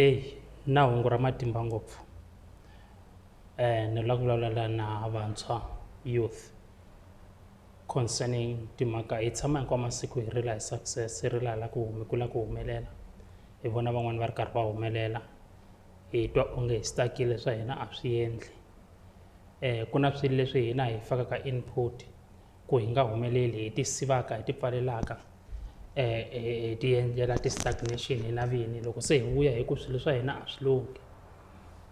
Eyi na hungu ra matimba ngopfu ni la ku vulavula na vantshwa youth concerning timhaka hi tshama hinkwawu masiku hi rila hi success hi rila hi la ku hi kula ku humelela hi vona van'wani va ri karhi va humelela hi twa onge hi stuck-ile swa hina a swi endli ku na swilo leswi hina hi fakaka input. ku hi nga humeleli hi ti sivaka hi ti pfalelaka hi ti endlela ti-stagnation hina vini loko se hi vuya hi ku swilo swa hina a swi lunghi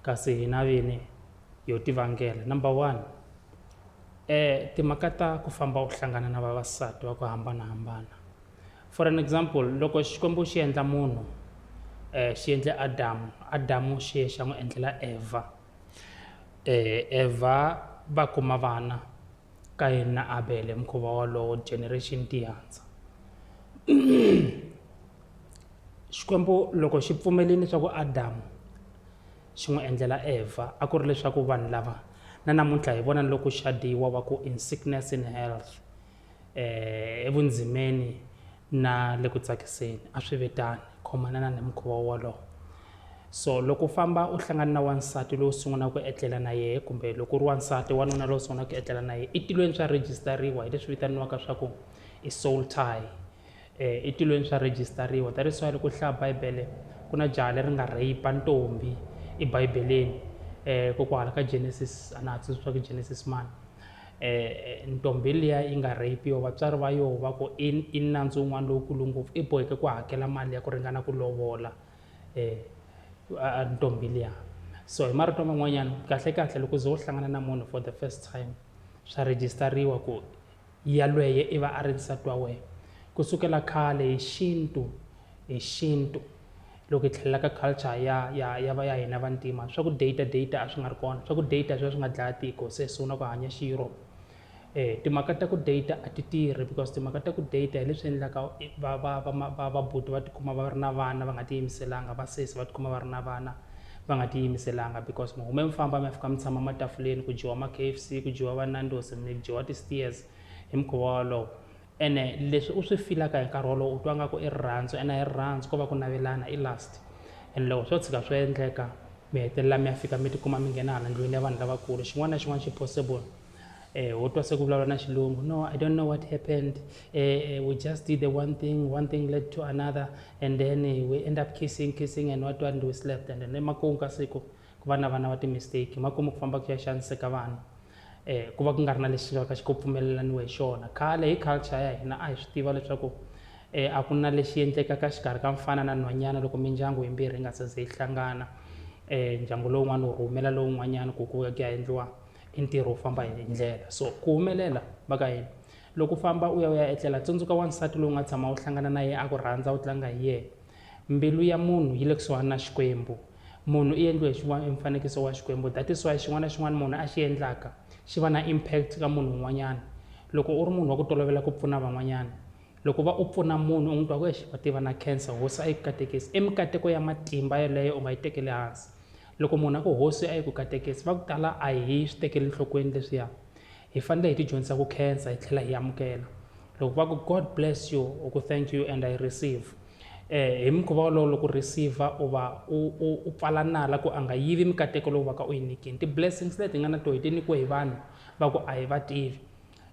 kasi hina vini yo ti vangela number one timhaka ta ku famba u hlangana na vavasati va ku hambanahambana for an example loko Xikwembu xi endla munhu xi endle Adamu Adamu xi ye xa n'wi endlela Evha Evha va kuma vana Kayini na Abele, mukhuva wolowo, generation tiyanza. Xikwembu loko xi pfumelini leswaku Adamu xi n'wi endlela Evha a ku ri leswaku vanhu lava na namuntlha hi vona loko xadiwa va ku in sickness in health eh evundzimeni na le ku tsakiseni a swi ve tani khomanana ni mukhuva wolowo. So loko u famba u hlangana na wansati lowu sungulaka ku etlela na yehe kumbe loko u ri wansati wanuna lowu sungulaka ku etlela na yehe etilweni swa rejistariwa hi leswi vitaniwaka swa ku i soul tie um eh, etilweni swa rejistariwa that is why loko u hlaya bibele ku na jaha leri nga rape ntombi ebibeleni um eh, kokwala ka genesis a na ha tsundzuxa ku genesis mani um ntombi liya yi nga rapiwa vatswari va yoho va ku i i nandzu wun'wana lowukulu ngopfu i boheke ku hakela mali ya ku ringana ku lovola eh, a ntombi liya so hi marito man'wanyana kahlekahle loko ze u hlangana na munhu for the first time swa rejistariwa ku yalweye i va a ri nsati wa wena ku sukela khale hi xintu hi xintu loko hi tlhelela ka culture ya ya ya va ya hina vantima swa ku data data a swi nga ri kona swa ku data swi va swi nga dlaya tiko se hi sungula ku hanya xi-europe Eh, timhaka ta ku data a ti tirhi because timhaka ta ku data hi leswi endlaka va va va va va buti va tikuma va ri na vana va nga tiyimiselanga va sesi va tikuma va ri na vana va nga tiyimiselanga because mi hume mi famba mi ya fika mi tshama matafuleni ku dyiwa ma-K F C ku dyiwa va Nandos mi dyiwa ti-steers hi mukhuva wolowo ene leswi u swi filaka hi nkarhi wolowo u twa nga ku i rirhandzu ene hi rirhandzu ko va ku navelana i last and loko swo tshika swi endleka mi hetelela mi ya fika mi tikuma mi nghena hala ndlwini ya vanhu lavakulu xin'wana na xin'wana xi possible Eh, ho twa se ku vulavula na xilungu no i don't know what happened eh, eh, we just did the one thing one thing led to another and then eh, we end up kissing kissing and what and we slept and then emakumu ka siku ku va na vana va timistake makumu ku famba ku ya xaniseka vanhu eh, ku va ku nga ri na lexi nga ka xi ko pfumelelaniwe hi xona khale hi culture ya hina a hi swi tiva leswaku eh, a ku na lexi endlekaka xikarhi ka mfana na nhwanyana loko mindyangu yimbirhi yi nga se ze yi hlangana eh, ndyangu lowun'wana wu rhumela lowun'wanyana ku ku ya ku ya endliwa i ntirho wo famba hi ndlela so ku humelela va ka yini loko u famba u ya u ya etlela tsundzuka wansati lowu nga tshama u hlangana na yena a ku rhandza u tlanga hi yena mbilu ya munhu yi le kusuhani na xikwembu munhu i endliwe hi mfanekiso wa xikwembu that is why xin'wana na xin'wana munhu a xi endlaka xi va na impact ka munhu un'wanyana loko u ri munhu wa ku tolovela ku pfuna van'wanyana loko va u pfuna munhu u n'wi twa ku exi va tiva na cancer hosi a yi katekisi i mikateko ya matimba yeleyo u nga yi tekeli hansi Loko munhu a ku hosi a yi ku katekesi va ku tala a hi swi tekeli nhlokweni leswiya hi fanele hi tidyondzisa ku khensa hi tlhela hi amukela loko va ku god bless you u ku thank you and i receive um hi mukhuva wolowo loko u receive u va u pfala nala ku a nga yivi mikateko lowu va ka u yi nyikini ti-blessings leti hi nga na to hi ti nyikiwe hi vanhu va ku a hi va tivi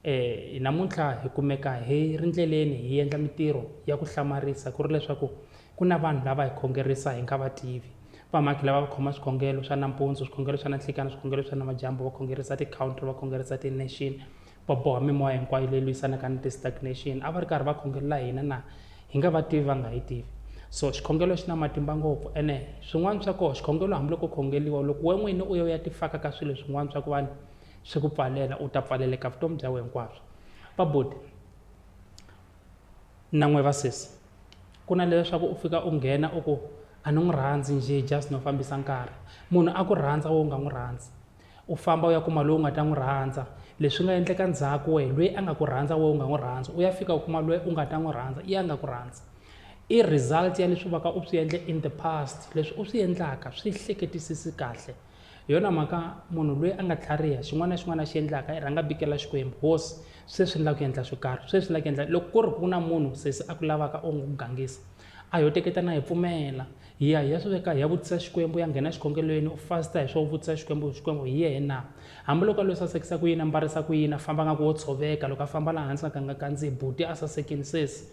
E, namuntlha hi kumeka hi ri ndleleni hi endla mitirho ya ku hlamarisa ku ri leswaku ku na vanhu lava hi khongerisa hi nga va tivi vamhakhi lava va khoma swikhongelo swa nampundzu swikhongelo swa nanhlikana swikhongelo swa namadyambu va khongerisa ti-country va khongerisa ti-nation va boha mimoya hinkwayo leyi lwisanaka ni ti-stagnation a va ri karhi va khongelela hina na hi nga va tivi va nga hi tivi so xikhongelo xi na matimba ngopfu ene swin'wana swa koho xikhongelo hambiloko khongeliwa loko we n'wini u ye u ya tifaka ka swilo swin'wana swa ku vanhu swi ku pfalela u ta pfaleleka vutomi bya wena hinkwabyo va buti na n'we va sesi ku na leswaku u fika u nghena u ku a ni n'wi rhandzi njhe just no fambisa nkarhi munhu a ku rhandza wo nga n'wi rhandzi u famba u ya kuma lowu nga ta n'wi rhandza leswi nga endleka ndzhaku wehe loyi a nga ku rhandza wo nga n'wi rhandzi u ya fika u kuma loyi u nga ta n'wi rhandza i a nga ku rhandzi i result ya leswi vaka u swi endle in the past leswi u swi endlaka swi hleketisisi kahle hi yona mhaka munhu loyi a nga tlhariha xin'wana na xin'wana a xi endlaka i rhanga bikela xikwembu hosi sweswi ni lava ku endla swo karhi sweswi ni lava ku endla loko ku ri ku na munhu sesi a ku lavaka u n'wi gangisa a yo teketa na hi pfumela hi ya hi ya swi veka hi ya vutisa xikwembu ya nghena xikhongelweni u fasta hi swo vutisa xikwembu xikwembu hi yehe na hambiloko a lo sasekisa ku yini a mbarisa ku yini a famba nga ku wo tshoveka loko a famba laha hansi nga ka nga kandziyi buti a sasekini sesi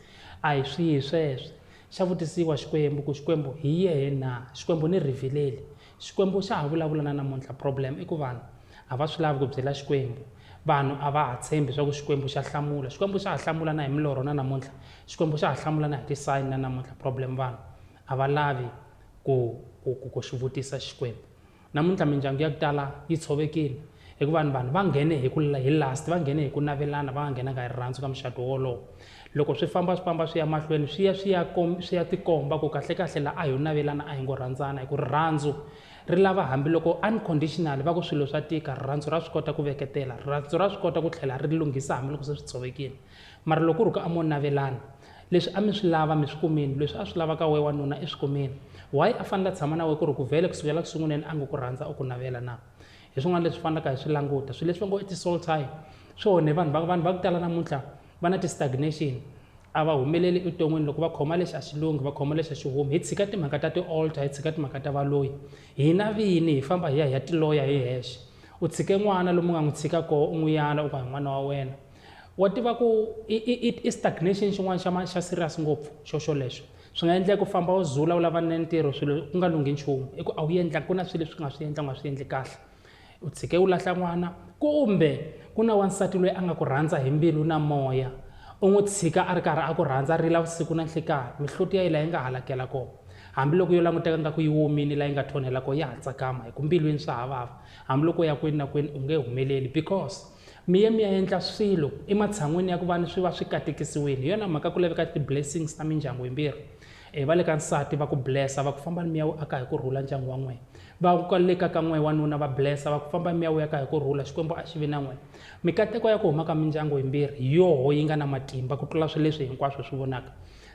a hi swihi sweswo xa vutisiwa xikwembu ku xikwembu hi yehe na xikwembu ni rhivileli xikwembu xa ha vulavula na namuntlha problem i ku vanhu a va swi lavi ku byela xikwembu vanhu a va ha tshembi swa ku xikwembu xa hlamula xikwembu xa ha hlamula na hi milorho na namuntlha xikwembu xa ha hlamula na hi tisayini na namuntlha problem vanhu a va lavi ku ku ku ku xi vutisa xikwembu namuntlha mindyangu ya ku tala yi tshovekile Hikuva ni vanhu va nghene hi ku hi lust, va nghene hi ku navelana, va nga nghenanga hi rirhandzu ka muxato wolowo. Loko swi famba swi famba swi ya mahlweni swi ya swi ya swi ya tikomba ku kahlekahle la a ho navelana a hi ngo rhandzana hi ku rirhandzu ri lava hambiloko unconditionally va ku swilo swa tika rirhandzu ra swi kota ku veketela rirhandzu ra swi kota ku tlhela ri lunghisa hambiloko se swi tshovekile mara loko ri ku a mo navelana leswi a mi swi lava mi swi kumile leswi a swi lava ka we wanuna i swi kumile why a fanele a tshama na we ku ri ku vhele kusukela ku sunguleni a nga ku rhandza u ku navela na hi swin'wana leswi fanelaka hi swi languta swilo leswi va ngo i ti-soul tie swi onhe vanhu va vanhu va ku tala namuntlha va na ti-stagnation a va humeleli evuton'wini loko va khoma lexi a xi lunghi va khoma lexi a xi humi hi tshika timhaka ta ti-alter hi tshika timhaka ta valoyi hina vini hi famba hi ya hi ya tiloya hi hexe u tshike n'wana lomu nga n'wi tshika koho u n'wi yana u ka hi n'wana wa wena wa tiva ku i stagnation xin'wana xa xa serious ngopfu xo xolexo swi nga endleka u famba u zula u lava ni ntirho swilo ku nga lunghi nchumu i ku a wu endla ku na swilo leswi nga swi endla u nga swi endli kahle u tshike u lahla n'wana kumbe ku na wansati loyi a nga ku rhandza hi mbilu na moya u n'wi tshika a ri karhi a ku rhandza a rila vusiku na nhlikani mihloti ya yi laha yi nga halakela kona hambiloko yo languteka nga ku yi womini laha yi nga thonhela kona ya ha tsakama hi ku mbilwini swa havava hambiloko ya kwini na kwini u nge humeleli because Mi ye mi ya endla swilo ematshan'wini ya ku va ni swi va swi katekisiwile. Hi yona mhaka ku laveka ti-blessings ta mindyangu yimbirhi. E va le ka nsati va ku bless-a va ku fambani mi ya wu aka hi ku rhula ndyangu wa n'wina. Va ka le ka ka n'we wanuna va bless-a va ku fambani mi ya wu aka hi ku rhula Xikwembu a xi vi na n'wina. Mikateko ya ku huma ka mindyangu yimbirhi hi yoho yi nga na matimba ku tlula swi leswi hinkwaswo hi swi vonaka.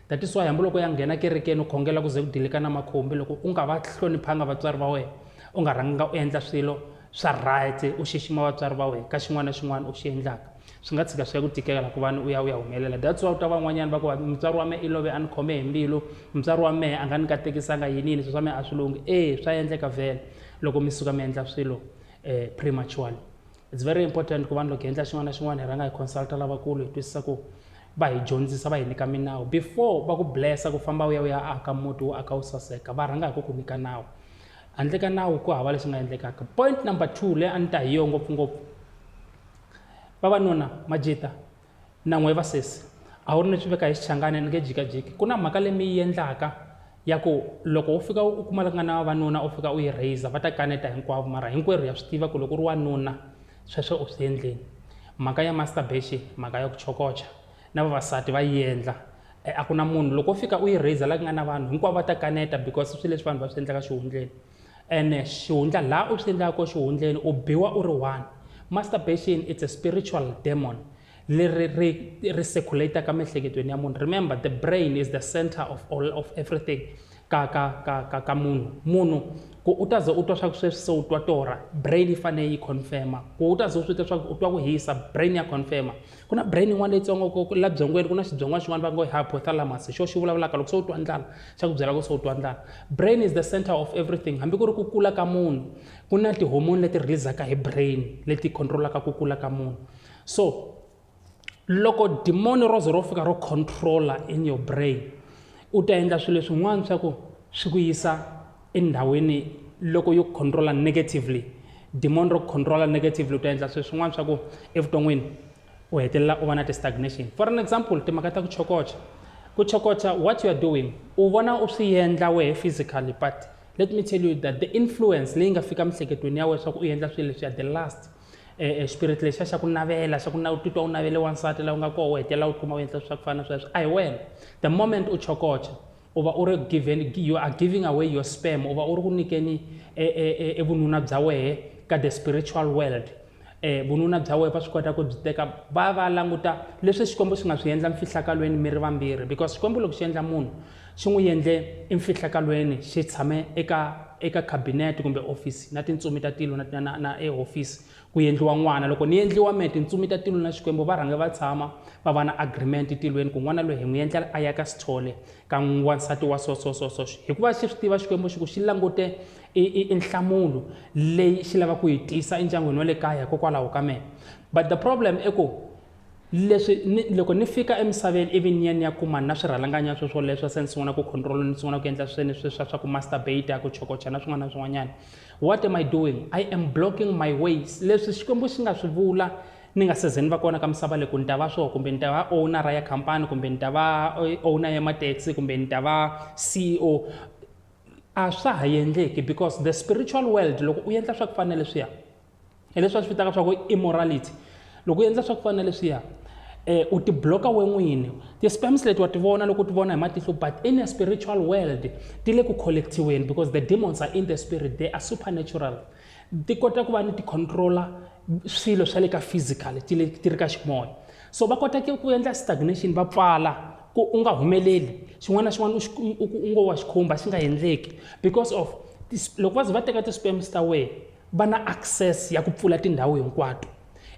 That is why hambiloko ya nghena kerekeni u khongela ku ze ku dilika na makhumbi loko u nga va hloniphanga vatswari va wena u nga rhanganga u endla swilo swa right u xixima vatswari va wena ka xin'wana na xin'wana u xi endlaka swi nga tshika swi ya ku tikela ku vani u ya u ya humelela that's why u ta van'wanyana va ku mutswari wa mehe i love a ni khome hi mbilu mutswari wa mehe a nga ni katekisanga yini yini swi swa mehe a swi lunghi e swa endleka vhele loko mi suka mi endla swilo um prematurely it's very important ku vanhu loko hi endla xin'wana na xin'wana hi rhanga hi consulta lavakulu hi twisisa ku va hi dyondzisa va hi nyika minawu before va ku blessa ku famba u ya u ya aka muti wu aka wu saseka va rhanga hi ku ku nyika nawu handle ka nawu ku hava leswi nga endlekaka point number two leyi a ni ta hi yo ngopfungopfu vavanuna majita na n'we vasesi a wu ri ni swi veka hi xichangani ni nge jikajiki ku na mhaka leyi mi yi endlaka ya ku loko u fika u kuma nga na vavanuna u fika u yi raiser va ta kaneta hinkwavo mara hinkwerhu ya swi tiva ku loko u ri wanuna sweswo u swi endleni mhaka ya masturbation mhaka ya ku chokocha na vavasati va yi endla e, a ku na munhu loko u fika u yi raiser la ku nga na vanhu hinkwavo va ta kaneta because swi leswi vanhu va swi endlaka xihundleni ene xihundla laha u swi endlaka ko xihundleni u biwa u ri one masturbation it's a spiritual demon leri ri ri circulataka miehleketweni ya munhu remember the brain is the center of all of everything ka ka ka ka ka munhu munhu ku u ta ze u twa swa ku sweswi se u twa torha brain yi fanele yi confirma ku u ta ze u swi twa swa ku u twa ku hisa brain ya confirma ku na brain yin'wana leyitsongo ku la byongweni ku na xibyongwa xin'wana va ngo hypothalamus xo xi vulavulaka loko se u twa ndlala xa ku byela ku se u twa ndlala brain is the center of everything hambi ku ri ku kula ka munhu ku na tihomoni leti releasaka hi brain leti controlaka ku kula ka munhu so loko dimoni ro ze ro fika ro controller in your brain u ta endla swilo leswin'wana swa ku swi ku yisa endhawini loko yo controla negatively demon ro controla negatively u ta endla sweswi swin'wana swa ku evuton'wini u hetelela u va na ti-stagnation for an example timhaka ta ku chokocha ku chokocha what you are doing u vona u swi endla wehe physically but let me tell you that the influence leyi nga fika mihleketweni ya wena swa ku u endla swilo leswi ya the last eh, eh, spirit lexiya xa ku navela xa ku na u titwa u navele wansati laha u nga koho u hetelela u kuma u endla swa ku fana na sweswo a hi wena the moment u chokocha U va u ri giveni, you are giving away your sperm, u va u ri ku nyikeni e, e, e, e vununa bya wehe ka the spiritual world. E, vununa bya wehe va swi kota ku byi teka va va languta leswi Xikwembu xi nga swi endla mfihlakalweni mi ri vambirhi because Xikwembu loko xi endla munhu xi n'wi endle emfihlakalweni xi tshame eka eka cabinet kumbe office na tintsumi ta tilo na, na, na ehofisi Ku yendliwa n'wana. Loko ni yendliwa me, tintsumi ta tilo na Xikwembu va rhange va tshama, va va na agreement tilweni ku n'wana loyi hi n'wi yendlela a ya ka Sithole, ka n'wansati wa so so so so. Hikuva xi swi tiva Xikwembu xi ku xi langute i, i, i nhlamulo leyi xi lava ku yi tisa endyangwini wa le kaya hikokwalaho ka me. But the problem i ku, leswi ni loko ni fika emisaveni ivi ni ya ni ya kuma na swirhalanganya swo swoleswo se ni sungula ku control ni sungula ku endla swini swi swa swa ku masturbate ku chokocha na swin'wana na swin'wanyana what am i doing i am blocking my ways leswi xikwembu xi nga swi vula ni nga se ze ni va kona ka misava leyi ku ni ta va swona kumbe ni ta va ownera ya khampani kumbe ni ta va eh, owner ya mataxi kumbe ni ta va ceo a swa ha endleki because the spiritual world loko u endla swa ku fana leswiya hi leswi va swi vitaka swa ku immorality loko u endla swa ku fana na leswiya eh u tibloka we n'wini ti-spams leti wa ti vona loko u ti vona hi matihlo but in a spiritual world ti le ku collectiweni because the demons are in the spirit they are supernatural ti kota ku va ni ti-controller swilo swa le ka physical ti le ti ri ka ximoya so va kota ku endla stagnation va pfala ku u nga humeleli xin'wana na xin'wana u ngo wa xikhumba xi nga endleki because of loko va ze va teka ti-spams ta wena va na access ya ku pfula tindhawu hinkwato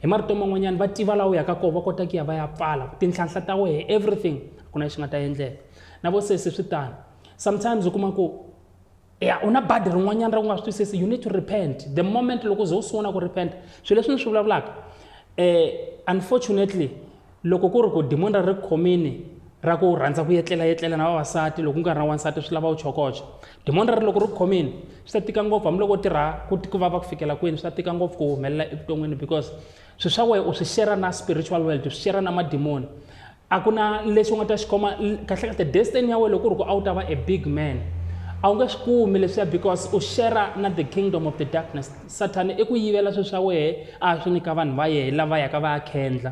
hi marito man'wanyana va tiva laha u yaka kona va kota ku ya va ya pfala tinhlanhla ta wehe everything ku na lexi nga ta endleka na vo sesi swi tano sometimes u kuma ku ya u na badi rin'wanyana ra ku nga swi twisisi you need to repent the moment loko u ze u sungula ku repent swilo leswi ni swi vulavulaka um unfortunately Loko ku ri ku dimoni ri ri khomini ra ku rhandza ku yetlelayetlela na vavasati loko ku nga ri na wansati swi lava u chokocha. Dimoni rero loko ri ku khomini swi ta tika ngopfu hambiloko u tirha ku ku vava ku fikela kwini swi ta tika ngopfu ku humelela evuton'wini because swilo swa wena u swi share na spiritual world, u swi share na madimoni. A ku na lexi u nga ta xi khoma kahlekahle destiny ya wena loko ku ri ku a wu ta va a big man a wu nge swi kumi leswiya because u share na the kingdom of the darkness. Sathana i ku yivela swilo swa wena a ya swi nyika vanhu va yena lava yaka va ya khendla.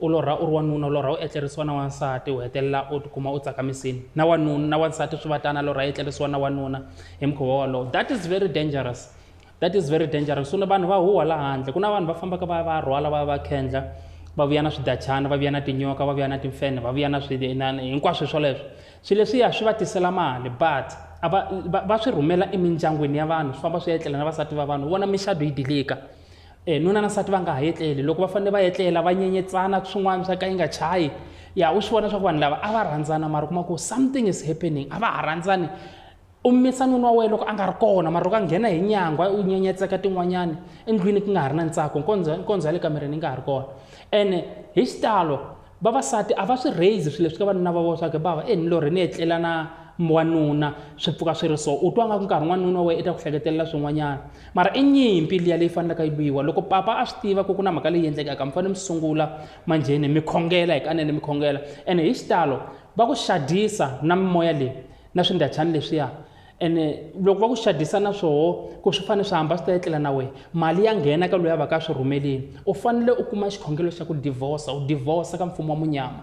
U lorha u ri wanuna, u lorha u etlerisiwa na wansati, u hetelela u tikuma u tsakamisile. Na wanuna, na wansati swi va tano, a lorha a etlerisiwa na wanuna hi mukhuva wolowo. That is very dangerous. That is very dangerous. Swi vanhu va huha la handle. Ku na vanhu va fambaka va ya va ya rhwala, va ya va khendla, va vuya na swidachana, va vuya na tinyoka, va vuya na timfenhe, va vuya na swi na hinkwaswo hi swoleswo. Swi leswiya swi va tisela mali but a va va va swi rhumela emindyangwini ya vanhu swi famba swi ya etlela na vasati va vanhu u vona minxadu yi dilika. E, nuna na nsati va nga ha etleli loko va fanele va etlela va nyenyetsana swin'wana swa ka yi nga chayi ya u swi vona swa ku vanhu lava a va rhandzana mara kuma ku something is happening a va ha rhandzani u misa nuna wa wena loko a nga ri kona mara loko a nghena hi nyangwa u nyenyetseka tin'wanyana endlwini ku nga ha ri na ntsako nkondzo ya le kamereni yi nga ha ri kona ene hi xitalo Vavasati a va swi raise swilo leswi ka vanuna va vona swa ku bava e ni lorhe ni etlela na wanuna swi pfuka swi ri so u twa nga ku nkarhi n'wanuna wa wena i ta ku hleketelela swin'wanyana mara i nyimpi liya leyi fanelaka yi lwiwa loko papa a swi tiva ku ku na mhaka leyi endlekaka mi fanele mi sungula manjheni mi khongela hi kanene mi khongela ene hi xitalo va ku xadisa na mimoya leyi na swindachani leswiya ene loko va ku xadisana swoho ku swi fanele swi hamba swi ta etlela na wena mali ya nghena ka loyi a va ka swi rhumelini u fanele u kuma xikhongelo xa ku divorsa u divorsa ka mfumo wa munyama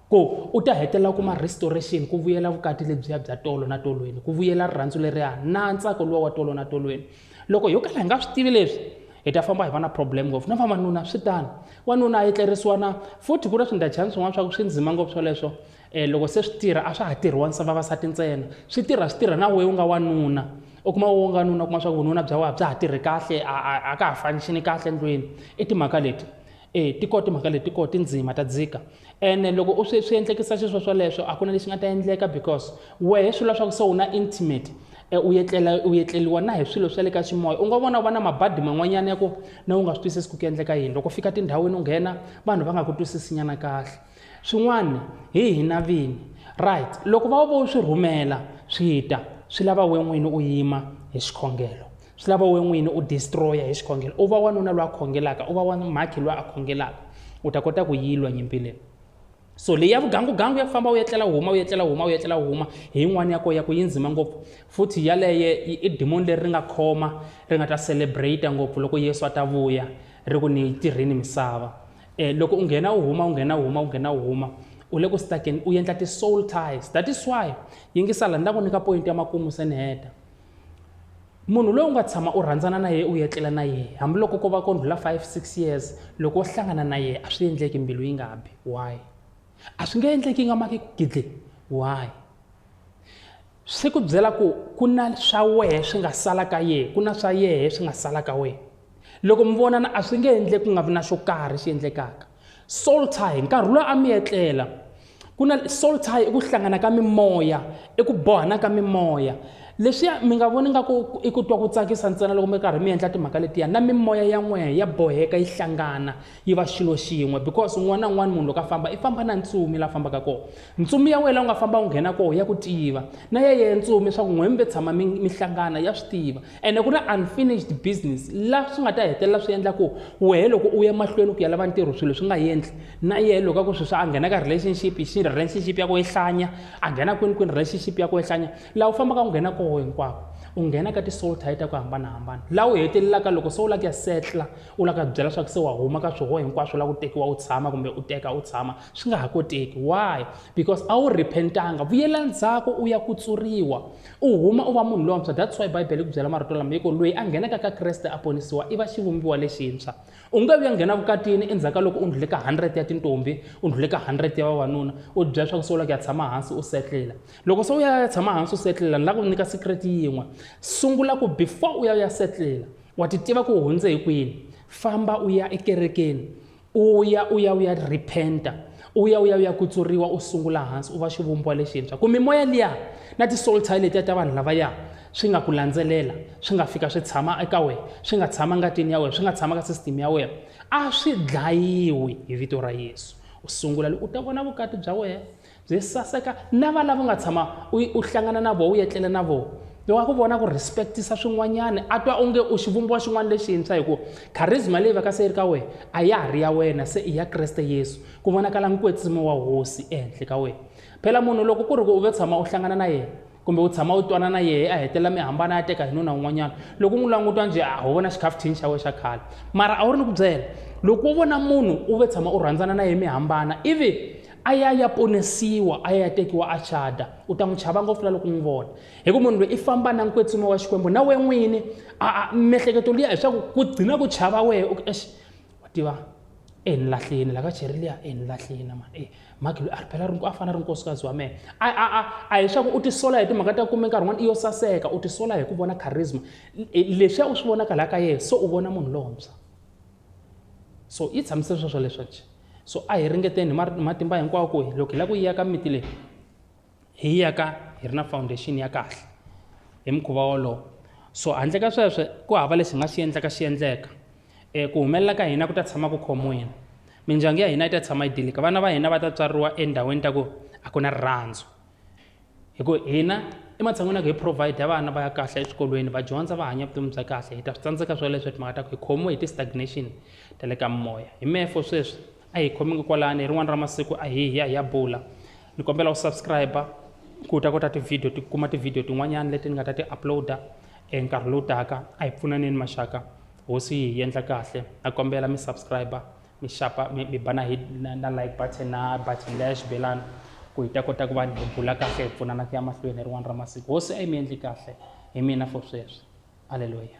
ku u ta hetelela u kuma restoration ku vuyela vukati lebyiya bya tolo na tolweni ku vuyela rirhandzu leriya na ntsako luwa wa tolo na tolweni loko yo kala hi nga swi tivi leswi hi ta famba hi va na problem ngopfu na vavanuna swi tani wanuna a etlerisiwa na futhi ku na swindachani swin'wana swa ku swi ndzima ngopfu swoleswo E, loko se swi tirha a swa ha tirhiwa nsa vavasati ntsena swi tirha swi tirha na weyi u nga wanuna u kuma wo nga nuna u kuma swa ku vununa bya wena bya ha tirhi kahle a ka ha fanixini kahle ndlwini i timhaka leti e ti kona timhaka leti kona tindzima ta dzika ene loko u swi swi endlekisa xiswo swoleswo a ku na lexi nga ta endleka because wehe swi leswaku se u na intimate e, u yetlela u yetleliwa na hi swilo swa le ka ximoya u nga vona u va na mabadi man'wanyana ya ku na u nga swi twisisi ku ku endleka yini loko fika tindhawini u nghena vanhu va nga ku twisisinyana kahle swin'wana hi hina vini right loko va vo swi rhumela swi ta swi lava we n'wini u yima hi xikhongelo swi lava we n'wini u destroya hi xikhongelo u va wanuna loyi a khongelaka u va wa mhakhi loyi a khongelaka u ta kota ku yilwa nyimpi leyi so leyi ya vugangugangu ya ku famba u etlela u huma u etlela u huma u etlela u huma hi yin'wana ya ko ya ku yi ndzima ngopfu futhi yaleye i dimoni leri ri nga khoma ri nga ta celebrate ngopfu loko yesu a ta vuya ri ku ni yi tirhini misava eh, loko u nghena u huma u nghena u huma u nghena u huma u le ku stakeni u endla ti-soul ties that is why yingisala ni ta ku nyika point ya makumu se ni heta munhu loyi u nga tshama u rhandzana na yena u etlela na yena hambiloko ko va ko ndlula 5 6 years loko wo hlangana na yena a swi endleki mbilu yi nga bi why a swi nge endleki yi nga maki ku gidle why Swi ku byela ku ku na swa wehe swi nga sala ka yehe ku na swa yehe swi nga sala ka wehe loko mi vonana a swi nge endle ku nga vi na xo karhi xi endlekaka soul tie nkarhi lowu a mi etlela ku na soul tie i ku hlangana ka mimoya i ku bohana ka mimoya leswiya mi nga voni nga ku i ku twa ku tsakisa ntsena loko mi karhi mi endla timhaka letiya na mimoya ya n'wehe ya boheka yi hlangana yi va xilo xin'we because un'wana na un'wana munhu loko a famba i famba na ntsumi la fambaka kona Ntsumi ya wena u nga famba u nghena koho ya ku tiva na ya yeye ntsumi swa ku n'wembe tshama mi, mi hlangana ya swi tiva ene ku na unfinished business la swi nga ta hetelela swi endla ku wehe loko u ya mahlweni ku ya lava ntirho swilo swi nga endli na yehe loko a ku sweswi a nghena ka relationship xi relationship ya ku ehlanya a nghena kwini kwini relationship ya ku ehlanya laha u fambaka u nghena koho hinkwako u nghena ka ti-soul tie ta ku hambanahambana laha u hetelelaka loko se u lava ku ya setla u lava ku ya byela swa ku se wa huma ka swihoho hinkwaswo la ku tekiwa u tshama kumbe u teka u tshama swi nga ha koteki why because a wu repentanga vuyela ndzhaku u ya kutsuriwa u huma u va munhu lontshwa that's why bibele ku byela marito lama yiko loyi a nghenaka ka kreste a ponisiwa i va xivumbiwa lexintshwa u nge vuya nghena vukatini endzhaku ka loko u ndlhule ka 100 ya tintombi u ndlhule ka 100 ya vavanuna u bya swa ku sungula ku ya tshama hansi u setlela loko se u ya ya tshama hansi u setlela ni lava ku nyika secret yin'we sungula ku before u ya ya setlela wa ti tiva ku hundze hi kwini famba u ya ekerekeni u ya u ya u ya repenta u ya u ya u ya kutsuriwa u sungula hansi u va xivumbiwa lexintshwa ku mimoya liya na tisoltayi letiya ta vanhu lavaya swi nga ku landzelela swi nga fika swi tshama eka wena swi nga tshama ngatini ya wena swi nga tshama ka sisiteme ya wena a swi dlayiwi hi vito ra yesu u sungula loko u ta vona vukati bya wena Byi saseka na va lava u nga tshama u u hlangana na vona u yetlele na vona wa ku vona ku respectisa swin'wanyana a twa onge u xivumbiwa xin'wana lexintshwa hi ku charisma leyi vaka se yi ri ka wena a ya ha ri ya wena se i ya kreste yesu ku vonakala nkwetsimi wa hosi ehenhla ka wena phela munhu loko ku ri ku u ve tshama u hlangana na yena kumbe u tshama u twana na yehe a hetelela mi hambana ya teka hi nuna un'wanyana loko u n'wi langutwa njhe a ho vona xikhafuthini xa we xa khale mara a wu ri ni ku byela loko u vona munhu u ve tshama u rhandzana na yehe mi hambana ivi a ya ya ponisiwa a ya ya tekiwa a chada u ta n'wi chava ngopfu la loko n'wi vona hi ku munhu loyi i famba na nkwetsima wa xikwembu na we n'wini a mihleketo liya hi swa ku ku gcina ku chava wehe u ex wa tiva e ni lahlini la ka cheri liya e ni lahlini ma e maki loyi a ri phela a fana ri nkosikazi wa mehe a a a a hi swaku u tisola hi timhaka ta kume nkarhi n'wana i yo saseka u tisola hi ku vona charisma e, lexiya u swi vonaka laha ka yena so u vona munhu lontshwa so yi tshamisile sweswo leswaku so a hi ringeteni hi matimba hinkwawo ku loko hi lava ku yiyaka miti leyi hi yi yaka hi ri na foundation ya kahle hi mukhuva wolowo so handle ka sweswo ku hava lexi hi nga xi endlaka xi endleka um ku humelela ka hina ku ta tshama ku khomiwini mindyangu ya hina yi ta tshama yi dilika vana va hina va ta tswariwa endhawini ta ku a ku na rirhandzu hi ku hina ematshan'wini ya ku hi provide vana va ya kahle eswikolweni va dyondza va hanya vutomi bya kahle hi ta swi tsandzeka swoleswo hi timhaka ta ku hi khomiwe hi ti-stagnation ta le ka moya hi mefo sweswi a hi khomeki kwalani hi rin'wana ra masiku a hi ya hi ya bula ni kombela u subscribe ku ta kota tivhidiyo ti kuma tivhidiyo tin'wanyana leti ni nga ta ti uploada e nkarhi lowu taka a hi pfunaneni maxaka hosi yi hi endla kahle a kombela mi subscribe mi xapa mi ba na hi na like button na button leya xibelani ku hi ta kota ku va hi bula kahle hi pfunana ku ya mahlweni hi rin'wana ra masiku hosi a yi mi endli kahle hi mina for sweswi aleluya